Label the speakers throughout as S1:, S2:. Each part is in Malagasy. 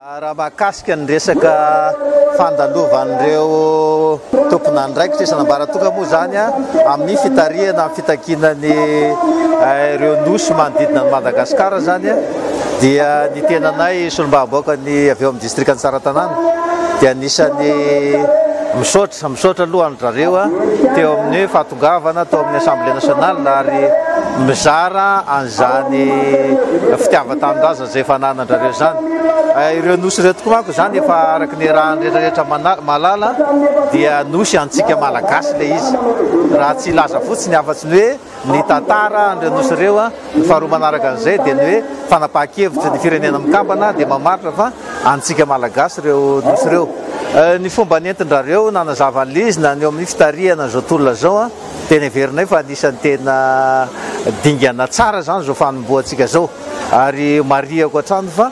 S1: Raha mahakasika ny resaka fandalovan'ireo tompon'andraikitra isan'ambaratongany moa izany amin'ny fitarihana amin'ny fitakiana ny ireo nosy manodidina an'i Madagasikara izany dia ny tenanay solombavambahoaka ny avy eo amin'ny distrikan'i Tsaratanàna dia anisan'ny misaotra misaotra aloha an-dry zareo teo amin'ny fahatongavan'ny Tongavana tao amin'ny Assemblée Nationale ary mizara an'izany fitiavan-tanindrazana izay efa ananandrareo izany. Ireo Nosy ireo tokoa manko izany efa araka ny raha ny rehetra rehetra mahalala dia Nosy antsika Malagasy ilay izy. Raha tsy hilaza fotsiny afa-tsy ny hoe ny tantara an'ireo Nosy ireo, Ny faharoa manaraka an'izay dia ny hoe fanapahan-kevitry ny Firenena Mikambana dia mamaritra fa antsika Malagasy ireo Nosy ireo. Ny fomba nentin-drareo nanazava an'i Lizina ny eo amin'ny fitarihana izao tolona izao dia neverinay fa anisan'ny tena dingana tsara izany izao fanombohantsika izao ary marihako hatrany fa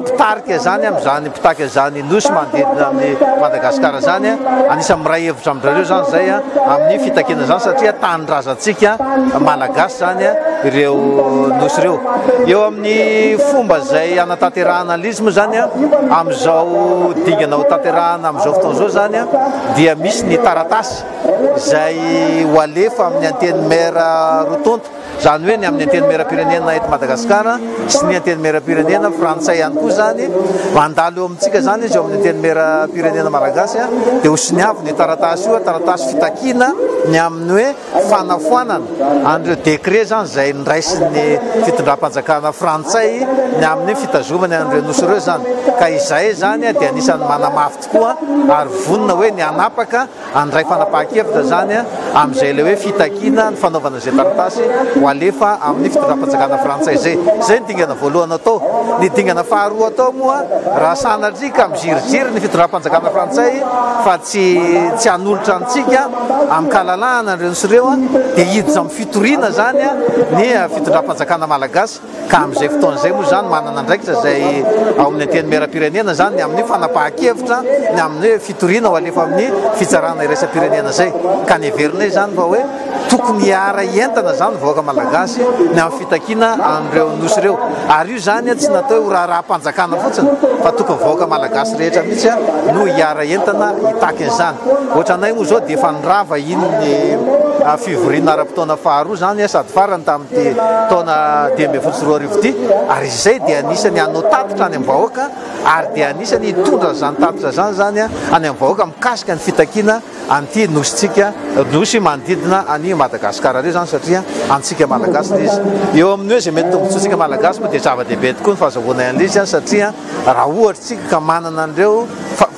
S1: mpitarika izany amin' izany mpitarika izany nosy manodidina an' i Madagasikara izany an, anisan'ny miray hevitra amin-dRareo izany izay an, amin'ny fitakiana izany satria tanindrazantsika Malagasy izany an, ireo nosy ireo. Eo amin'ny fomba izay hanatanterahana an' izy moa izany an, amin'izao dingana ho tanterahana amin'izao fotoana izao izany an, dia misy ny taratasy izay ho alefa amin'ny Antenimiera roa tonta, Izany hoe ny amin'ny Antenimierampirenena eto Madagasikara sy ny Antenimierampirenena frantsay ihany koa izany, mandalo eo amintsika izany izy eo amin'ny Antenimierampirenena malagasy, dia ho siniavina io taratasy io, taratasy fitakiana ny amin'ny hoe fanafoanana an'ireo décrets izany izay niraisin'ny fitondram-panjakana frantsay ny amin'ny fitazomany an'ireo nosy ireo izany. Ka izahay izany dia anisan'ny manamafy tokoa ary vonona hoe ny hanapaka Handray fanapahan-kevitra izany amin'izay ilay hoe fitakiana ny fanaovana izay taratasy ho alefa amin'ny fitondram-panjakana frantsay izay. Izay ny dingana voalohany atao. Ny dingana faharoa atao moa raha sanatria ka miziriziry ny fitondram-panjakana frantsay fa tsy tsy hanolotra antsika amin-kalalahana ireo sy ireo dia hiditra amin'ny fitoriana izany ny fitondram-panjakana malagasy. Ka amin'izay fotoana izay moa izany manana andraikitra izay ao amin'ny Antenimierampirenena izany ny amin'ny fanapahan-kevitra ny amin'ny hoe fitoriana ho alefa amin'ny fitsarana iraisam-pirenena izay. Ka ny heverinay izany fa hoe tokony hiara-hientana izany ny vahoaka malagasy ny amin'ny fitakiana an'ireo Nosy ireo. Ary io izany tsy natao hoe ho raharaham-panjakana fotsiny fa tokony vahoaka malagasy rehetra mihitsy no hiara-hientana hitaky an'izany. Ohatranay moa izao dia efa nirava iny ny fivoriana ara-potoana faharoa izany sady farany tamin'ny. ity taona dimy ambin'ny folo sy roa arivo ity ary izay dia anisany hanao tatitra any amin'ny vahoaka ary dia anisany hitondra izany tatitra izany izany any amin'ny vahoaka mikasika ny fitakiana an'ity nosintsika nosy manodidina any Madagasikara ireo izany satria antsika malagasy izy eo amin'ny hoe izay mety tombontsoantsika malagasy moa dia zava-dehibe tokoa ny fahazahoana an'ilay izy satria Raha ohatra tsika ka manana an'ireo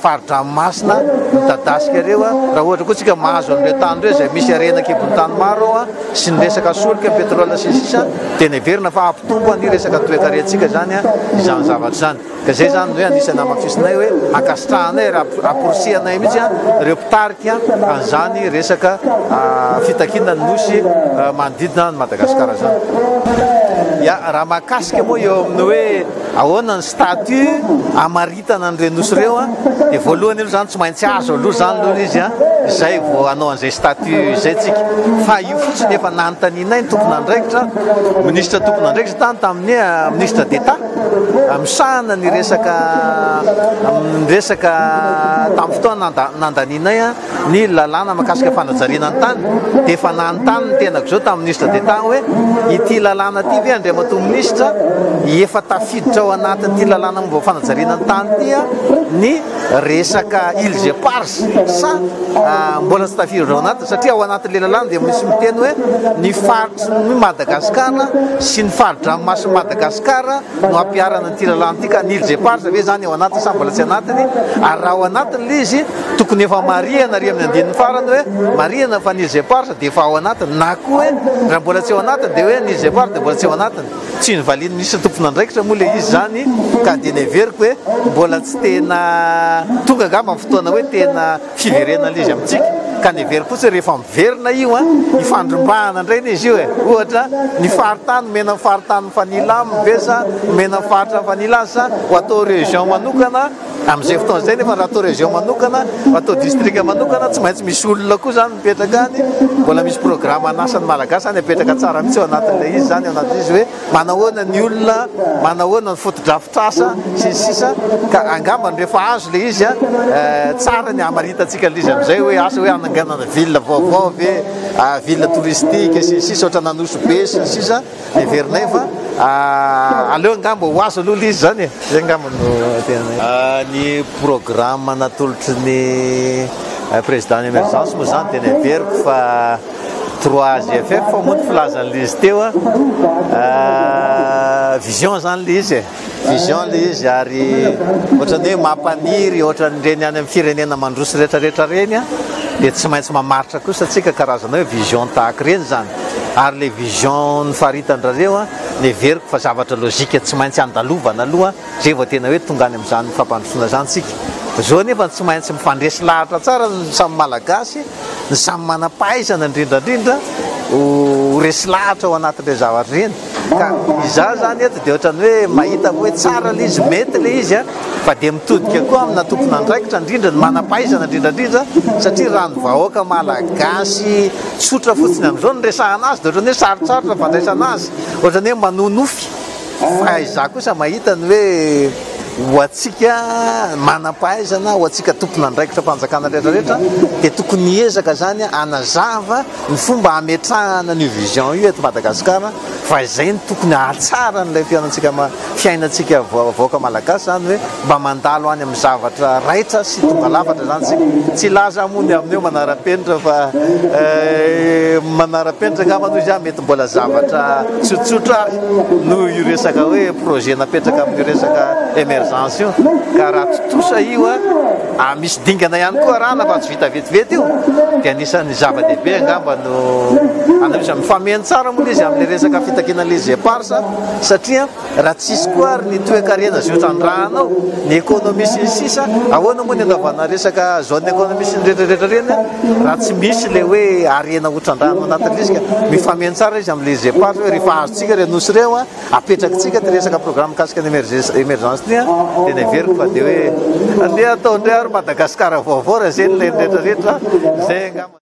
S1: fari-dranomasina midadasika ireo, raha ohatra koa tsika mahazo an'ireo tany ireo izay misy harena an-kibon'ny tany maro ao, sy ny resaka solika, petrole sy ny sisa, dia neverina fa hampitombo an'ny resaka toekarentsika izany izany zavatra izany. Ka izay izany no hoe anisan'ny hamafisinay hoe hankasitrahanay ary hamporisihanay mihitsy ireo mpitarika an'izany resaka fitakiana ny nosy manodidina an'i Madagasikara izany. Ya, raha mahakasika moa eo amin'ny hoe. Ahoana ny statut hamaritana an'ireo nosy ireo a? Dia voalohany aloha izany tsy maintsy azo aloha izany aloha ilay izy a, izay vao hanao an'izay statut izay tsika. Fa io fotsiny efa nanontanianay ny tompon'andraikitra, minisitra tompon'andraikitra tany tamin'ny Ministre d'Etat misahana ny resaka resaka tamin'ny fotoana nandanianay an. Ny lalàna mahakasika fanajariana ny tany dia efa nanontany ny tenako izao tamin'ny Ministre d'Etat aho hoe ity lalàna ity ve Andriamatoa Ministra efa tafiditra ao anatin'ity lalàna momba ny fanajariana ny tany ity ny resaka îles éparses sa mbola tsy tafiditra ao anatiny satria ao anatin'ilay lalàna dia misy miteny hoe ny faritry ny Madagasikara sy ny fari-dranomasin'i Madagasikara no ampiharana ity lalàna ity ka ny îles éparses ve izany ao anatiny sa mbola tsy anatiny ary raha ao anatiny ilay izy Tokony efa marihana ary amin'ny andininy farany hoe marihana fa ny Gepard dia efa ao anatiny na koa hoe raha mbola tsy ao anatiny dia hoe ny Gepard dia mbola tsy ao anatiny. Tsy novalian'ny minisitra tompon'andraikitra moa ilay izy izany ka dia neveriko hoe mbola tsy tena tonga angamba ny fotoana hoe tena fiverenan'ilay izy amintsika ka neveriko fotsiny hoe rehefa miverina io an, ifandrombahana indray ilay izy io e. Ohatra ny faritany omena ny faritany mifanila aminy ve sa omena ny faritra mifanila azy sa ho atao région manokana Amin'izay fotoana izay nefa raha atao région manokana, raha atao district manokana, tsy maintsy misy olona koa izany mipetraka any, mbola misy programme an'asan'ny Malagasy izany apetraka tsara mihitsy ao anatin'ilay izy izany, ao anatin'ilay izy hoe manahoana ny olona, manahoana ny fotodrafitrasa sy ny sisa ka angambany rehefa azo ilay izy tsara ny hamaritantsika an'ilay izy amin'izay hoe asa hoe hananganana ville vaovao ve, ville touristique sy ny sisa ohatran'Anosibe sy ny sisa. Heverinay fa aleo angamba ho azo aloha ilay izy izany e! Izay angamba no tena. Ny programme natolotry ny président ny emergence moa izany dia neveriko fa trois GFF moa ny filazan'ilay izy teo a, vision izany ilay izy e! Vision le izy ary ohatrany hoe mampaniry ohatran'ireny any amin'ny firenena mandroso retraretra ireny an, dia tsy maintsy mamaritra kosa tsika karazana hoe vision tahaka ireny izany ary le vision nofaritan-drareo an, neveriko fa zavatra logique tsy maintsy andalovana aloha zay vao tena hoe tonga any amin'izany fampandrosoana izany tsika. Zao anefa tsy maintsy mifandresy lahatra tsara ny samy malagasy. ny samy manam-pahaizana indrindra indrindra ho resy lahatra ao anatin'ireny zavatra ireny ka izaho izany eto dia ohatran'ny hoe mahita hoe tsara ilay izy, mety ilay izy a, fa dia mitodika koa amina tompon'andraikitra indrindra ny manam-pahaizana indrindra indrindra satria raha ny vahoaka malagasy tsotra fotsiny amin'izao no resahana azy dia ohatran'ny hoe sarotsarotra ny fandraisana azy, ohatran'ny hoe manonofy. Fa izaho kosa mahita ny hoe ho antsika manam-pahaizana, ho antsika tompon'andraikitr'am-panjakana rehetra rehetra dia tokony hiezaka izany hanazava ny fomba hametrahana an'io vision io eto Madagasikara fa izay no tokony hahatsara an'ilay fiainantsika fiainantsika vahoaka malagasy izany hoe Mba mandalo any amin'ny zavatra raitra sy tonga lafatra izany isika. Tsy hilaza aho moa ny amin'ny hoe manara-penitra fa manara-penitra angamba aloha izy an, mety mbola zavatra tsotsotra ary noho io resaka hoe projet napetraka amin'io resaka emergence io ka raha tontosa io ary misy dingana ihany koa arahana fa tsy vita vetivety io dia anisan'ny zava-dehibe angamba no an'io izany. Mifameno tsara moa ilay izy amin'ilay resaka fitakiana les eparses satria. Raha tsy hisy koa ary ny toekarena izay hotrandrahana ao, ny ekonomia sy ny sisa, ahoana moa ny andavana resaka zone ekonomia sy ny retradretra ireny raha tsy misy ilay hoe harena hotrandrahana ao anatin'ny risque? Mifameno tsara izy amin'ilay GEPAS hoe rehefa azontsika ireo nosy ireo, apetrakitsika ity resaka programme mikasika ny emergence ity, dia neveriko fa dia hoe andeha atao indray ary Madagascar vaovao raha izay no ilain'ny retraretra, izay angamba.